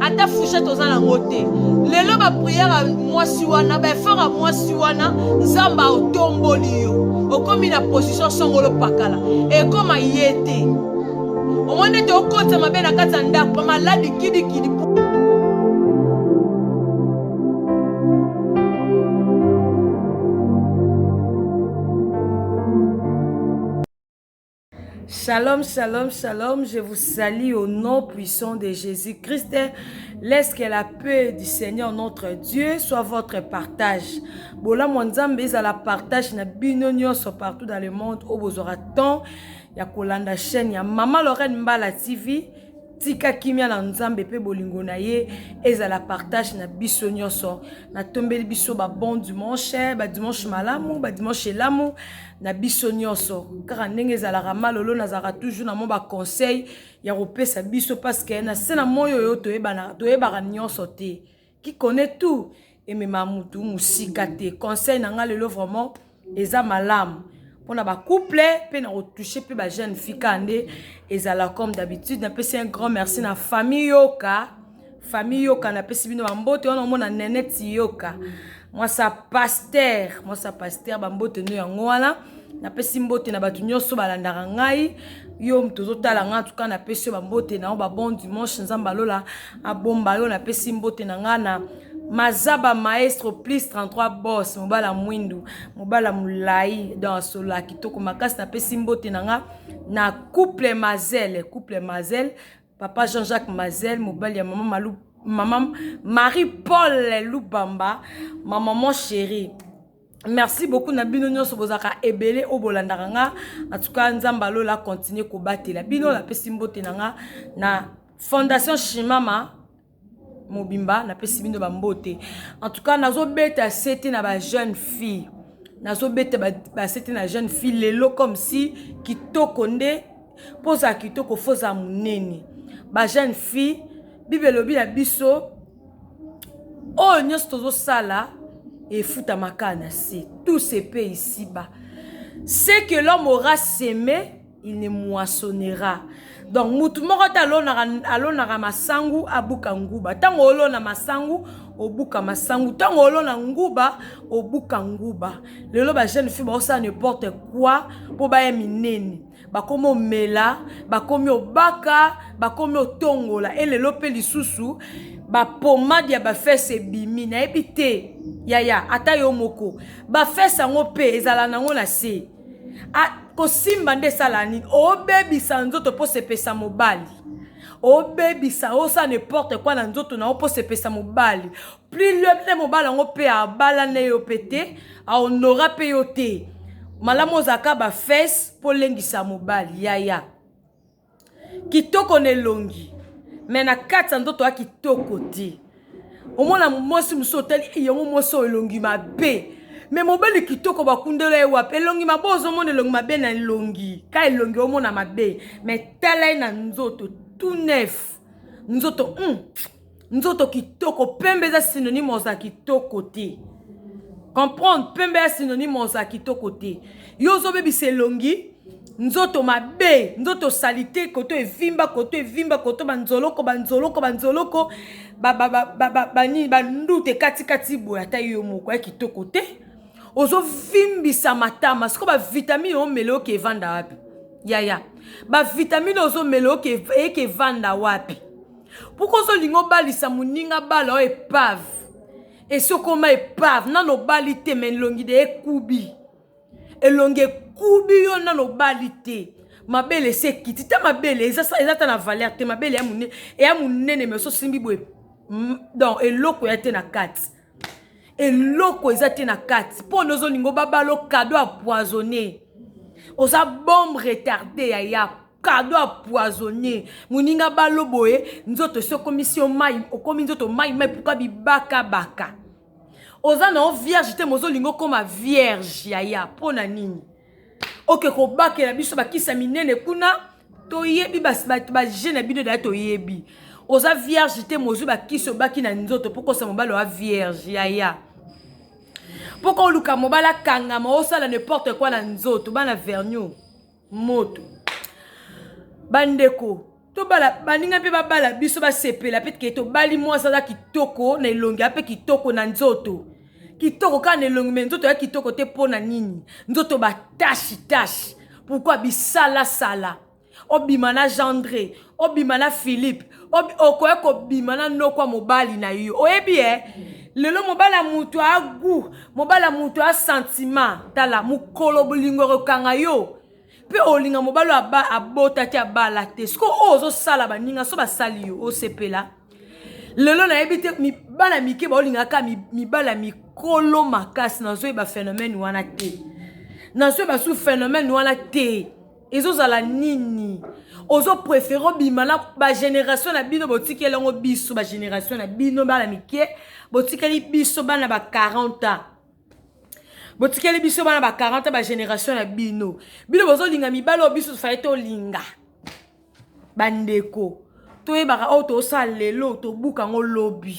ata fouchette oza nango te lelo bapriere ya mwasi wana baefort ya mwasi wana nzambe aotomboli yo okomi na position songolo pakala ekoma ye te omoni ete okotisa mabe na kati ya ndako bamaladi kidikidi Shalom, shalom, shalom. Je vous salue au nom puissant de Jésus-Christ. Laisse que la paix du Seigneur notre Dieu soit votre partage. Bola Mwanzambe la partage na bino nyonso partout dans le monde au bozora temps ya kolanda chaîne ya Mama Lorraine Mbala TV. tika kimia na nzambe mpe bolingo na ye ezala partage na biso nyonso natombeli biso babon dimanche badimanche malamu badimanche elamu ba na biso nyonso kaka ndenge ezalaka malolo nazalaka toujours na mwa baconseil ya kopesa biso parceke na se na moi oyo toyebaka nyonso te qui connaît tout emema motu mosika te conseil na ngai lelo vraiment eza malamu mpona bacouple mpe na kotouche mpe bajeune fika nde ezala comme d'habitude napesi un grand merci na famille yoka famille yoka napesi bino bambote wana omona neneti yoka mwasa paster mwasa paster bambote no yango wana napesi mbote na bato nyonso balandaka ngai yo moto ozotala ngai atuka napesi yo bambote na yo babon dimanche nzambe alola abomba yo napesi mbote na ngai na mazaba maestro plus 33 bos mobala mwindu mobala molai don asola kitoko makasi napesi mbote na nga na couple mazele couple mazele papa jean jacques mazel mobali ya mama malu mama marie paul lubamba ma maman chérie merci beaucoup na bino nyonso bozalaka ebele oyo bolandaka nga en tout cas nzambe alola continue kobatela bino napesi mbote na nga na fondation shimama mobimba napesi bino bambote en tout cas nazobeta sete na ba jeune fille nazobeta basete na jeune fille lelo comme si kitoko nde mpo ozala kitoko fo ozala monene ba jeune fille bible elobi na biso oyo nyonso tozosala efutamaka na se tout se pe isiba ce que l'homme aura seme il ne moissonnera donc mutu moko te alonaka alonaka masangu abuka nguba ntango olona masangu obuka masangu ntango olona nguba obuka nguba lelo bajeune fille baosala n'importe quoi mpo baya minene bakomi omela bakomi obaka bakomi otongola e lelo mpe lisusu bapomade ya bafese ebimi nayebi te yaya ata yo moko bafese yango mpe ezala nango na se Ah, kosimba nde esala nini obebisa nzoto mpo sepesa mobali obebisa osala n'importe quoi na nzoto na yo mpo sepesa mobali plus le mobali yango mpe abala na yo mpe te ahonora mpe yo te malamu ozalaka bafese mpo olengisa mobali yaya Kitoko na elongi mais na kati ya nzoto ya kitoko te. Omona mwasi mosusu otali eh, yango mwasi oyo elongi mabe me mobali kitoko bakundela ye wapi elongi mabe ozomona elongi mabe na elongi ka elongi omona mabe me tala ye na nzoto tout neuf nzoto mm. nzoto kitoko pembe eza synonyme oza kitoko te comprendre pembe ya synonyme oza kitoko te yo ozobebisa elongi nzoto mabe nzoto salite koto evimba koto evimba koto banzoloko banzoloko banzoloko banini bandute katikati boye ata yo moko ya kitoko te ozovimbisa matama sikoyo bavitamine omele oke evanda wapi yaya bavitamine ozomele eke evanda wapi Pourquoi ozo linga obalisa muninga bala oyo epave esi okoma epave nano obali te ma elongi de ekubi elongi ekubi yo nano obali te mabele esi ekiti ta mabele eza ta na valeur te mabele eya monene mais osimbi boye donc eloko ya te na kati eloko eza te na kati mpo na ozolinga obabalo kado ya poisonne oza bombe retarde ya yap kado ya poisonnier moninga balo boye nzoto esi okomisi yo mai okomi nzoto mai mai puka bibakabaka oza na yo vierge te mozolinga okoma vierge yaya mpo na nini oke kobakela biso bakisi ya minene kuna toyebi baje na bino daya toyebi oza vierge te mozwi bakisi obaki na nzoto mpo kosa mobali oa vierge yaya mpo koluka mobali akangama osala ne porte kua na nzoto bana verniou moto bandeko tobala baninga mpe babala biso basepela mpe ke tobali mwasi aza kitoko na elongi mpe kitoko na nzoto kitoko kaka na elongi me nzoto ya kitoko te mpo na nini nzoto batashi tashi pourkui bisalasala obima na gendre obima na philippe okoya kobima na nokwa mobali na yo oyebi e eh? lelo mobali ya moto agu mobali ya moto ya santima tala mokolo bolingo ekokanga yo mpe olinga mobali oyo abotaki abala te soki oyo ozosala baninga so basali yo osepela lelo nayebi te mibala mike baolingaka mibala mikolo makasi nazoyeba phénomène wana te nazoyeba su phénomène wana te ezozala nini ozo prefere obima na bagénération na bino botikeli yango biso bagénération na bino bana mike botikeli biso bana ba 40 ans botikeli biso bana ba 40 ans bagénération na bino bino bozolinga mibale oyo biso tofai tolinga bandeko toyebaka oyo tosala lelo tobuka yango lobi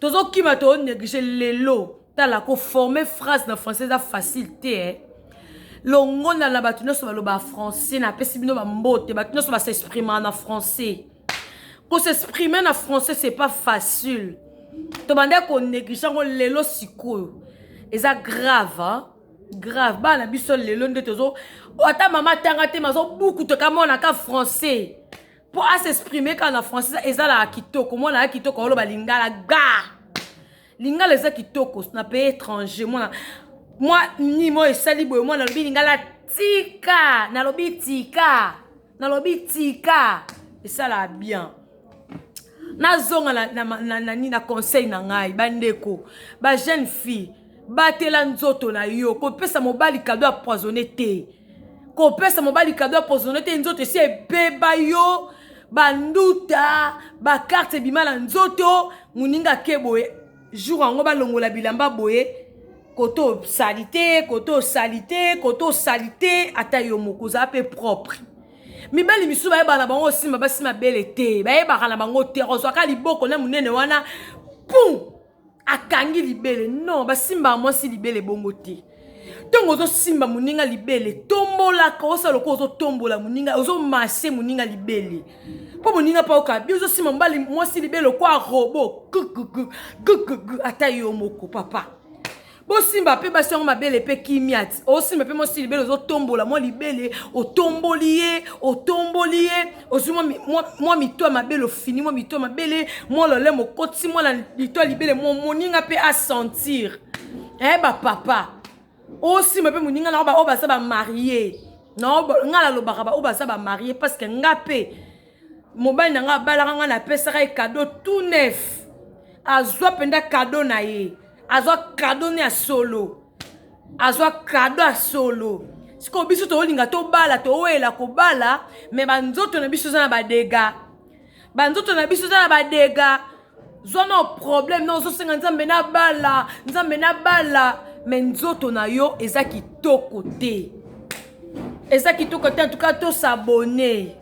tozokima to néglige lelo tala koforme phrase na français eza facile te eh? longola na bato nyonso baloba français napesi bino bambote bato nyonso basexprima na français kosexprime na français c'est pas facile tobandaki konéglige yango lelo sikoyo eza grave hein? grave bana biso lelo nde tozo ata mama atanga te mazobukuta kamonaka français po a s'exprimer kaka na français ezalaka kitoko mwana ya kitoko aoloba lingala ga lingala eza kitoko na pays étranger mwana mwa nimo esali boye mwana alobi lingala tika nalobi tika nalobi tika esalaka bien nazonga na, na, na, na, na, na conseil na ngai bandeko bajeune fille batela nzoto na yo kopesa mobali kado ya poisonne te kopesa mobali kado ya poisonne te nzoto esi ebeba yo banduta bakarte ebima na nzoto moninga ake boye jour yango balongola bilamba boye kote osali te kote osali te kote osali te ata yo moko ozala mpe propre mibali misusu bayebaka na bango osimba basi mabele te bayebaka na bango te ozwaka liboko na monene wana pum akangi libele non basimbaka mwasi libele bongo te ntongo ozosimba moninga libele tombolaka osala lokola ozotombola moninga ozomashe moninga libele mpo moninga mpe oyoka bi ozosimba mobali mwasi libele lokwa robo ata yo moko papa bosimba mpe basi yango mabele mpe kimia ti osimba mpe mwasi libele ozotombola mwa libele otomboli ye otomboli ye ozwi mwa mito ya mabele ofini mwa mito ya mabele mwa lole mokoti mwa na lito ya libele mwa moninga mpe asentir e eh, bapapa osimba mpe moninga na oyo baza bamarie na ngai nalobaka baoyo baza bamarie parceke ngai mpe mobali na ngai abalaka ngai napesaka ye kado tout neuf azwa mpenza kado na ye azwa kado ne ya solo azwa kado ya solo sikoyo biso tolinga tobala towela kobala me banzoto na biso eza na badega banzoto na biso eza na badega zwa na problème na ozosenga nzambe nabala nzambe nabala me nzoto na yo eza kitoko te eza kitoko te en tout cas tosabone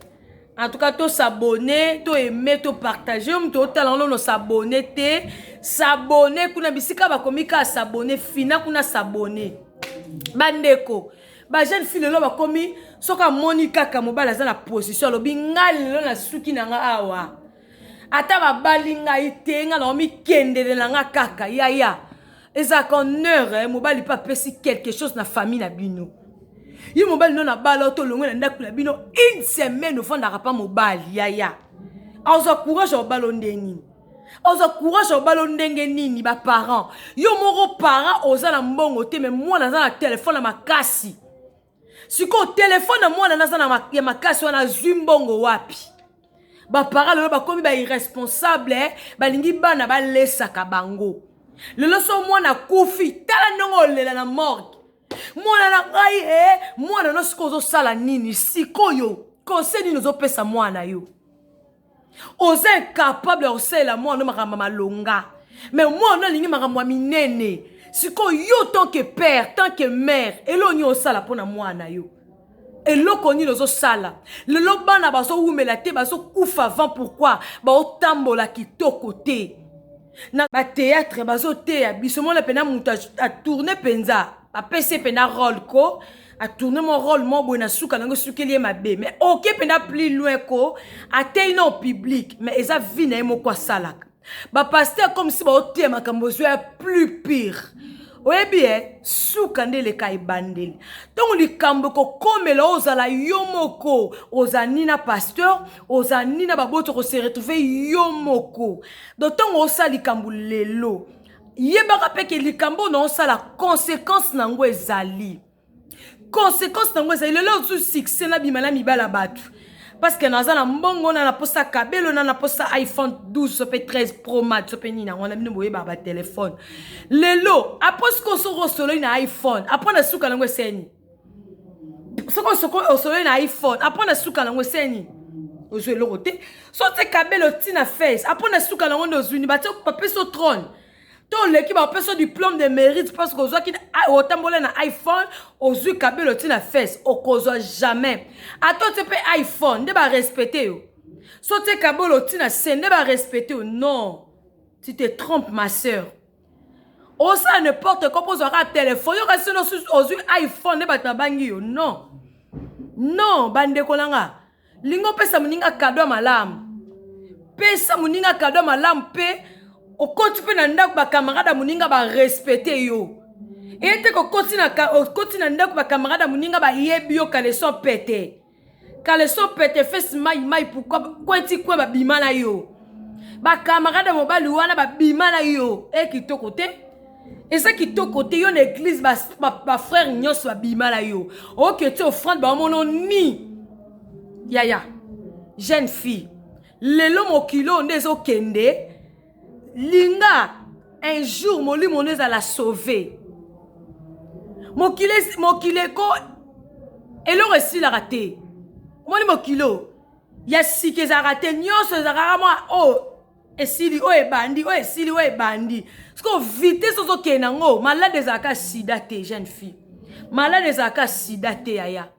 en tout cas to s'abonner to aimer to partager yo moto otala ono s'abonner te s'abonner kuna bisika bakomi kaka s'abonner fina kuna s'abonner bandeko bajeune fille lelo bakomi soki amoni kaka mobali aza na position alobi ngai lelo nasuki na ngai awa ata babali ngai te ngai naomi kendele na ngai kaka yaya ya. ezalaka en heure eh, mobali mpe apesi quelque chose na famille na bino ye mobali no nabala to olongwe na ndako na bino une semaine ofandaka mpa mobali yaya azwa courage ya obalo ndenge nini ozwa courage ya obalo ndenge nini baparent yo moko parent oza na mbongo te me mwana aza na telefone ya makasi sikoyo telefone ya mwana naza na ya makasi wana azwi mbongo wapi bapara lelo bakomi bairresponsable eh? balingi bana balesaka bango lelo so mwana akufi tala ndenge olela na morgue mwana na ngai e mwana no sikoyo ozosala nini sikoyo kose nini ozopesa mwana yo oza incapable ya kosalela mwana no makambo ya malonga me mwana no alingi makambo ya minene sikoyo yo tant que père tant que mère eloko nini osala mpo na mwana yo eloko nini ozosala lelo bana bazowumela te bazokufa avant pourkui baotambola kitoko te na bateatre bazoteya biso mona mpena moto atourne mpenza bapesi mpenza role ko atourne mo role mo boye na suka nango esukeli ye mabe mais oke mpenda plus loin ko ateyi na public mais eza vie na ye moko asalaka bapaster comme si baoteya makambo ozwa ya plus pire oyebi ye eh, suka nde eleka ebandeli ntango likambo ekokomela ozala yo moko oza ni na pasteur oza ni na baboti okoseretrouve yo moko do ntango osala likambo lelo Yebaka pe ke likambo oyo nao sala consequence na yango ezali. Consequence na yango ezali lelo oyo su succès na bima na mibali ya batu. Parce que naza na mbongo na na posa kabelo na na posa iPhone 12 so pe 13 Pro Max so pe nini yango na bino boyeba ba telephone. Lelo après sikoyo soki osololi na iPhone après na suka na yango eseni. soko soko osolo na iphone apo na suka nango eseni ozwi eloko te so te kabelo ti na face apo na suka nango nde ozwini bapesi o trone to oleki bapesi o diplome de mérite parce que ozwaki otambola na iphone ozwi kabelo ti na face okozwa jamais ata otie mpe iphone nde barespecte yo so te kabelo ti na se nde barespecte yo non tu te trompe ma sœur osala ne porte quoi mpo ozwa kaka telefone yoka sino ozwi iphone nde bato nabangi yo non non bandeko na nga lingi opesa moninga kado ya malamu pesa moninga kado ya malamu mpe okoti mpe na ndako bakamarade ya moninga barespecte yo ete okoti na ndako bakamarade ya moninga bayebi yo kaleson pete kaleso pete fesi mai mai pourkoi kweti kwe babima na yo bakamarade ya mobali wana babima na yo e kitoko te eza kitoko te yo na eglize bafrere ba, ba nyonso babima na yo oke ti ofrande baomono ni yaya jeune fille lelo mokili oyo nde ezokende linga un jour molimo no ezala sauve mokili mokili eko eloko esilaka te omoni mokili oyo ya sika ezalaka te nyonso ezalaka mwa oyo oh, esili oyo oh, ebandi oyo oh, esili oyo ebandi sikoyo vitese ozokende yango malade ezalaka sida te jeune fille malade ezalaka sida te yaya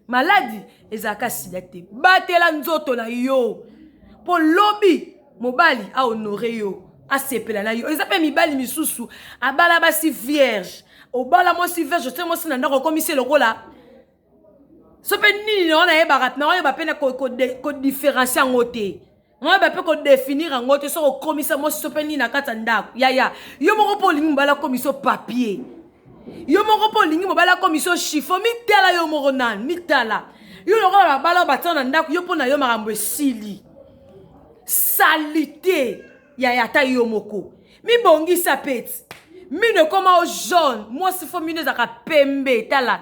maladi ezalaka sida te batela nzoto na yo mpo lobi mobali ahonore yo asepela na yo eza mpe mibali misusu abala basi vierge obala mwasi vierge otie mwasi na ndako okomisi lokola so mpe nini na wana yebaka na oyeba mpe kodifferencie yango te Moi ba peut ko définir yango te soko komisa moi so pe ni na kata ndako. Ya ya. Yo moko po lingi mbala komiso papier. Yo moko po lingi mbala komiso chiffon mi tala yo moko nan mi tala. Yo loko ba bala ba tsana ndako yo po na yo makambo esili. Salite ya ya ta yo moko. Mi bongi sa peti. Mine koma o jaune. Moi si fo mine zaka pembe tala.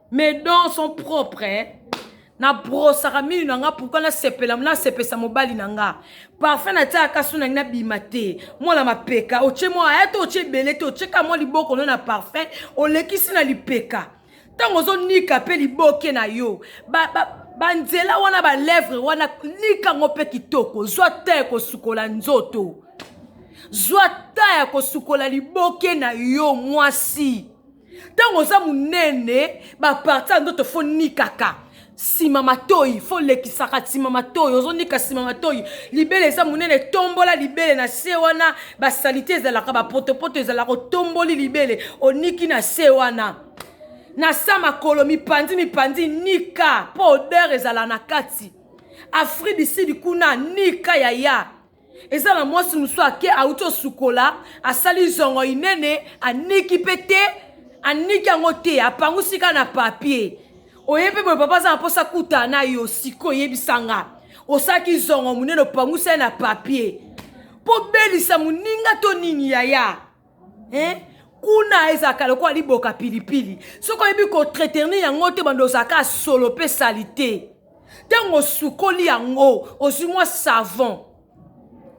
mes dents sont propres hein? na brosaka minu na nga pourkui nasepela nasepesa mobali na nga parfum natiaka kasu nangi nabima te mwana mapeka otie mwa aya te otie ebele te otie ka mwa liboko no na parfum olekisi na lipeka ntango ozonika mpe liboke na yo ba, ba, banzela wana balèvre wana nika yango mpe kitoko zwa te ya kosukola nzoto zwa ta ya kosukola liboke na yo mwasi ntango oza monene baparti ya ndoto fo nikaka nsima matoi fo lekisaka nsima matoi ozonika nsima matoi libele eza monene tombola libele na se wana basalite ezalaka bapotopoto ezalaka otomboli libele oniki na se wana na sa makolo mipanzi mipanzi nika mpo odeur ezala na kati afrique du sud kuna nika yaya eza na mwasi mosusu ake auti osukola asali zongo inene aniki mpe te aniki yango te apangusi kaka na papier oye mpe boye papa aza na mposa kuta na yo siko oyebisa nga osalaki zongo monene opangusi ye na papier mpo belisa moninga to nini yaya eh? kuna ezalaka lokola liboka pilipili soki oyebi kotretenir yango te bando ozalaka solo mpe salite ntango osukoli yango ozwi mwa savon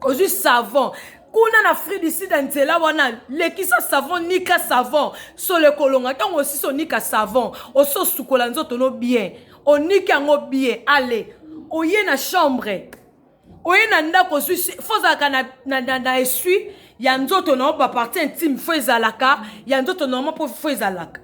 ozwi savon kuna na afrique du sud ya nzela wana lekisa savon nika savon solo ekolonga ntango osisi onika savon osi osukola nzoto no bien oniki yango bien ale oye na chambre oye na ndako ozwi fo ozalaka na, na, na, na esui ya nzoto na yo baparti intime fo ezalaka ya nzoto na yo mpo fo ezalaka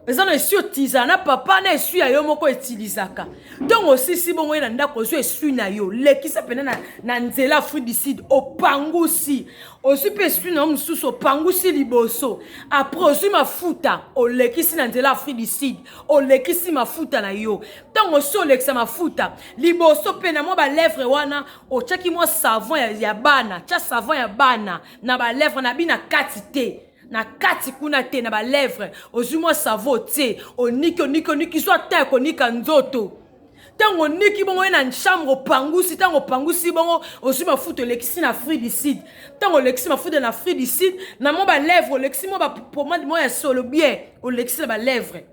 eza na esui otizala na papa na esui ya yo moko etilizaka ntongo osisi bongo ye na ndako ozwi esui na yo lekisa mpena na, na nzela afrique du sud opangusi ozwi mpe esui na yo mosusu opangusi liboso apres ozwi mafuta olekisi na nzela afrique du sud olekisi mafuta na yo ntango osi olekisa mafuta liboso mpe na mwa balèvre wana otyaki mwa savon ya, ya bana tya savon ya bana na balèvre na bina kati te na kati kuna te na balèvre ozwi mwa savon otie oniki oniki oniki zwa ta ya konika nzoto ntango oniki bongo ye na chambre opangusi ntango opangusi bongo ozwi mafuta olekisi na fri du sud ntango olekisi mafuta na fri du sud na mwa balèvre olekisi mwa bapomade mwa ya solo bien olekisi na balèvre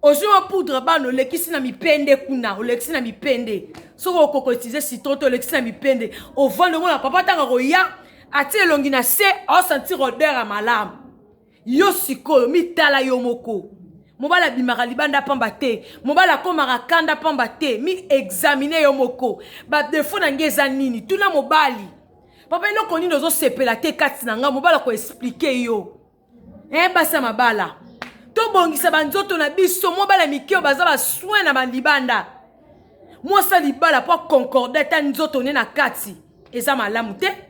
ozwi mwa poudre bana olekisi na mipende kuna olekisi na mipende soki okoko utilize citron te olekisi na mipende ovandi omona papa ntango akoya atie elongi na se aosentir odeur ya malamu yo sikoyo mitala yo moko mobali abimaka libanda pamba te mobali akomaka kanda pamba te mi examine yo moko badefo na ngai eza nini tuna mobali papa eloko nini ozosepela te kati na ngai mobali akoexplike yo e eh, basi ya mabala tobongisa banzoto na biso mobala mike oyo baza basoin na balibanda mwasi ya libala mpo akoncorde ata nzoto ne na kati eza malamu te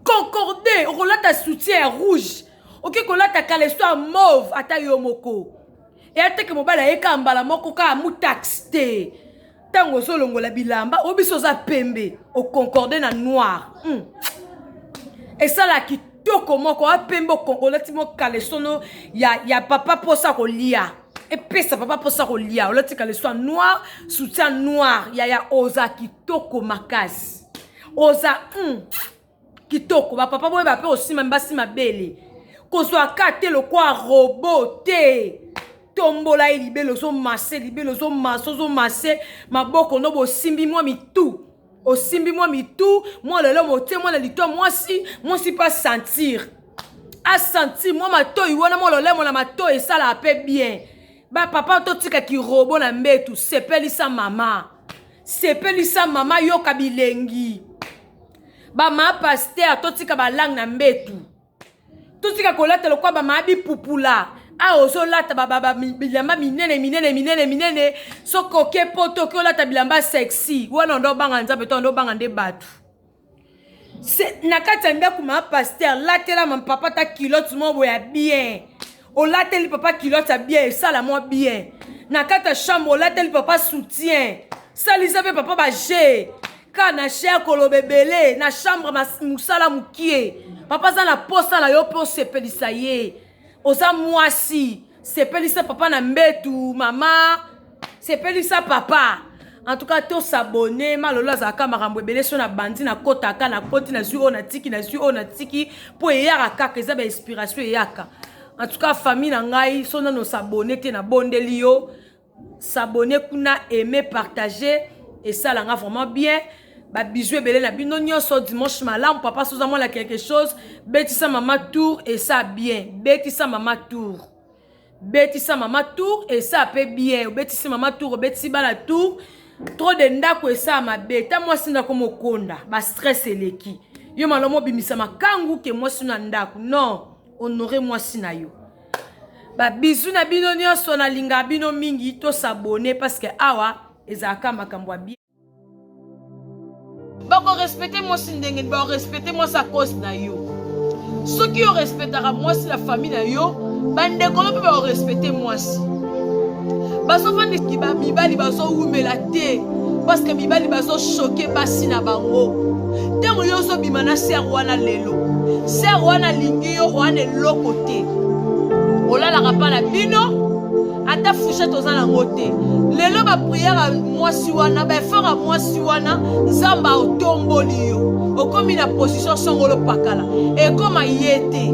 concorde okolata soutien ya rouge oke kolata kaleso ya mauve ata yo moko eyateke mobali ayeka mbala moko kaka mutaxe te ntango ozolongola bilamba oyo biso oza pembe oconcorde na noir mm. esala kitoko moko oya pembe olati mo kalesono ya, ya papa mposa kolia epesa papa mposa kolia olati kaleso ya noir soutien noir yaya oza kitoko makasi oza mm, kitoko bapapa boye bape osimami basima bele kozwa ka te lokwa robo te tombola ye libele ozomase libele ozomase ozomase maboko no bosimbi mwa mitu osimbi mwa mitu mwa lelo motie mwana litwa mwasi mwasi mpe asentir asentir mwa matoi wana mwa lolemo na matoi esalaka mpe bien bapapa totika kirobo na mbetu sepelisa mama Sepelisa mama yoka bilengi. Ba ma pasteur totika ba langue na mbetu. Totika kolata lokwa ba ma bipupula. awa ah, ozolata bilamba minene minene minene minene soki oke poto oki olata bilamba sexy wana ondo obanga nzambe to ondo obanga nde bato na kati ya ndako ma paster latela ma papa ta kilote mwa boye ya bien olateli papa kilote ya bien esala mwa bien na kati ya chambre olateli papa soutien salisa mpe papa baje ka na cher koloba ebele na chambre mosala mokie papa aza na posa na yo mpe osepelisa ye oza mwasi sepelisa papa na mbetu mama sepelisa papa en tout cas tosabone malolo azalaka makambo ebele so na bandi nakotaka nakoti nazwi oyo natiki nazwi oyo natiki mpo eyaka kaka eza bainspiration eyaka en tout cas famille na ngai so nano sabone te nabondeli yo s'abonner kuna aimer partager esala nga vraiment bien ba bisous ebele na bino nyonso dimanche malamu papa soza mwana quelque chose betisa mama tour esa bien betisa mama tour betisa mama tour esa pe bien obetisi mama tour obetisi bana tour trop de ndako esa mabe ta mwasi ndako mokonda ba stress eleki yo malomo obimisa makangu ke mwasi na ndako non honore mwasi na yo babizu na bino nyonso nalingaka bino mingi tosabone parce que awa ezalaka makambo ya bien bakorespecte mwasi ndenge nini bakorespecte mwasi a cause na yo soki orespectaka mwasi na famille na yo bandeko no mpe bakorespecte mwasi bazovandisi ba mibali bazowumela te parceke mibali bazoshoke basi na bango ntango yo ozobima na ser wana lelo ser wana alingi yo wana eloko te olalaka mpa na bino ata fushete oza nango te lelo bapriere ya mwasi wana baefort ya mwasi wana nzambe aotomboli yo okomi na position songolo pakala ekoma ye te